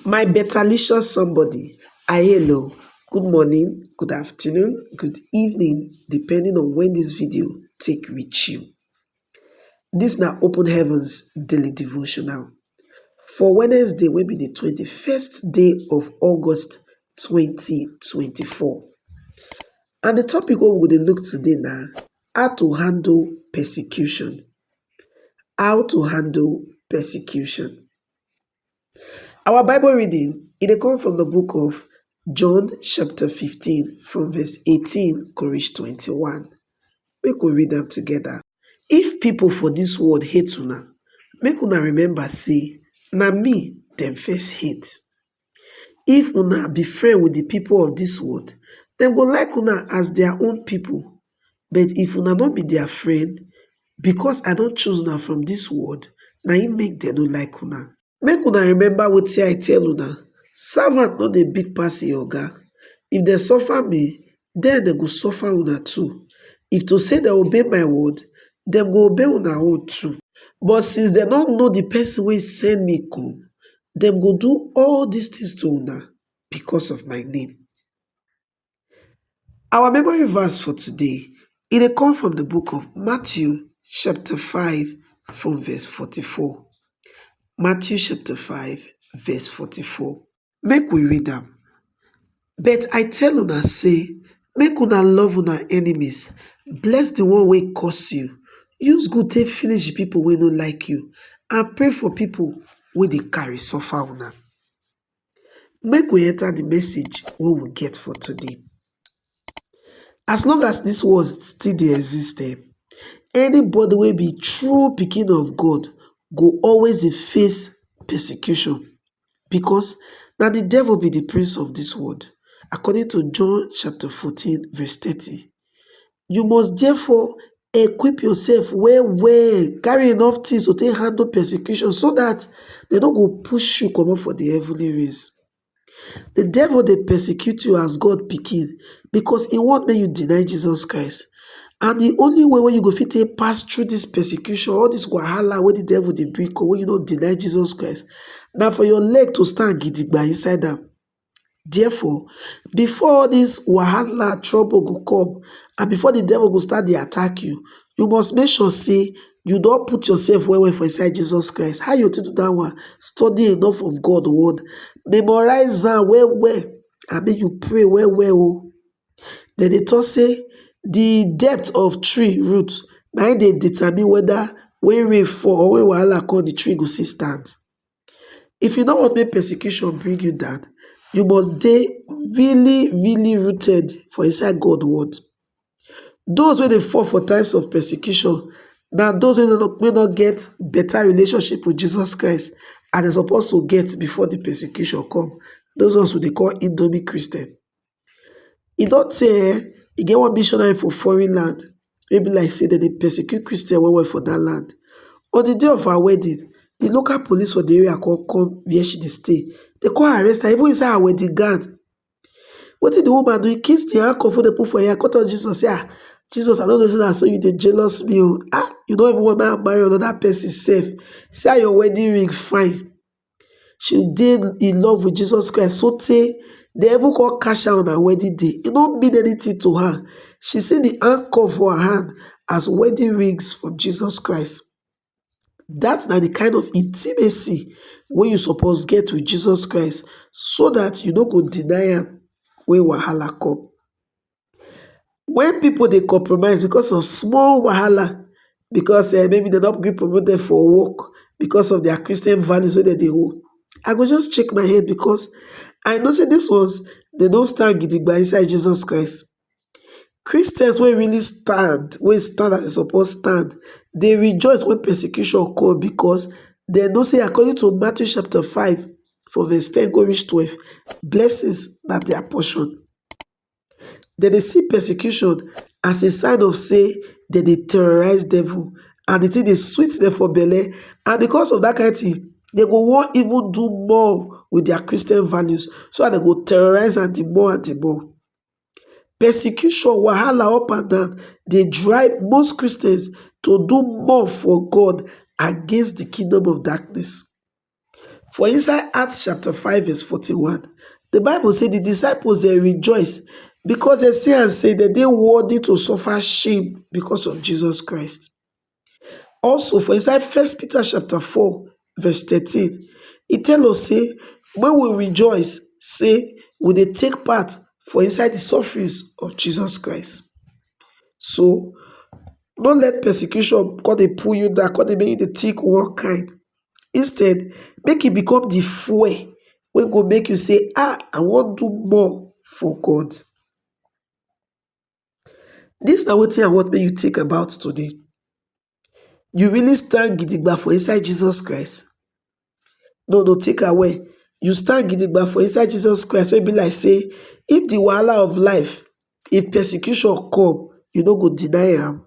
My betalicious somebody, I hail o, good morning, good afternoon, good evening depending on when this video take reach you. This na Open Heavens Daily Devotional for Wednesday wey be the twenty-first day of August twenty twenty-four and the topic wey we go dey look today na how to handle persecution. How to handle persecution. Our bible reading e dey come from the book of John chapter 15 from verse 18 go reach 21. Make we read am together. If people for this world hate una, make una remember say na me dem first hate. If una be friend with the people of this world, dem go like una as their own people. But if una no be dia friend, bikos I don choose una from dis world, na im make dem no like una. Make una remember wetin I tell una, Savant no dey big pass im oga. If dem suffer me, den dem go suffer una too. If to sey dem obey my word, dem go obey una own too. But since dem no know di Pesin wey send me kom, dem go do all dis tins to una bikos of my name. Our memory verse for today, e dey come from the book of Matthew chapter 5 from verse 44. Matthew chapter 5 verse 44. Make we read am. But I tell una say, make una love una enemies, bless the one wey curse you, use good take finish the people wey no like you, and pray for people wey dey carry suffer una. Make we enter the message wey we get for today. As long as this world still dey exist um, anybody wey be true pikin of God go always dey face persecution because na the devil be the prince of this world according to John chapter fourteen verse thirty. You must therefore equip yourself well well, carry enough things to take handle persecution so that they don't go push you come up for the heavenly race. The devil they persecute you as God picking because he want make you deny Jesus Christ. And the only way when you go fit take pass through this persecution, all this wahala when the devil they bring come, when you don't deny Jesus Christ, now for your leg to stand gidigba inside them. Therefore, before all dis wahala, trouble go come and before the devil go start dey attack you, you must make sure say you don put yourself well well for inside Jesus Christ. How you take do that one? Study enough of God word, memorize am well well and make you pray well well oh. Then they talk say the depth of tree root na im dey determine whether when rain fall or when wahala come the tree go still stand. If you no want make persecution bring you down, you must dey really, really rooted for inside God word. Those wey dey fall for times of persecution na those wey no wey no get better relationship with Jesus Christ as dem suppose to get before the persecution come. Those ones we dey call Indomie Christian. E don tey um e get one missionary for foreign land wey be like say dem dey persecute Christian well well for that land. On the day of her wedding, the local police for the area come come where she dey stay. They come arrest her even inside her wedding gown. Wetin the woman do, e kiss the handcuff wey dem put for im hand come tell Jesus say, ah, Jesus I no know say na so you dey jealous me oo, ah, you no even want make I marry another person sef, see how your wedding ring fine. she dey in love with Jesus Christ so tey dem even come catch her on her wedding day, e no mean anything to her. She see the handcuff for her hand as wedding rings from Jesus Christ. That na the kind of intimacy wey you suppose get with Jesus Christ so that you no go deny am when wahala come. When people dey compromise because of small wahala, because eh, maybe dem no gree promote dem for work because of their Christian values wey dem dey hold, I go just shake my head because I know say these ones dem don stand gidigba inside Jesus Christ. Christians wey really stand, wey stand as dem suppose stand, dey rejoice when persecution come because dem know say according to Matthew chapter 5 from verse 10 go reach 12, blessings na their portion. dem dey see persecution as a sign of say dem dey terrorise devil and the thing dey sweet dem for belle and because of that kind thing dem go wan even do more with their Christian values so that dem go terrorise am the more and the more persecution wahala up and down dey drive most Christians to do more for God against the kingdom of darkness For inside Acts chapter 5 verse 41, the Bible say the disciples they rejoice because they see and say that they worthy to suffer shame because of Jesus Christ. Also, for inside First Peter chapter 4, verse 13, it tells us say, when we rejoice, say we they take part for inside the sufferings of Jesus Christ. So don't let persecution God they pull you down, God they make you the take one kind. instead make e become di fuel wey go make you sey ah I wan do more for God, dis na wetin I want make you think about today, you really stand gidigba for inside Jesus Christ? No no think am well, you stand gidigba for inside Jesus Christ wey be like sey if di wahala of life, if persecution come you no go deny am?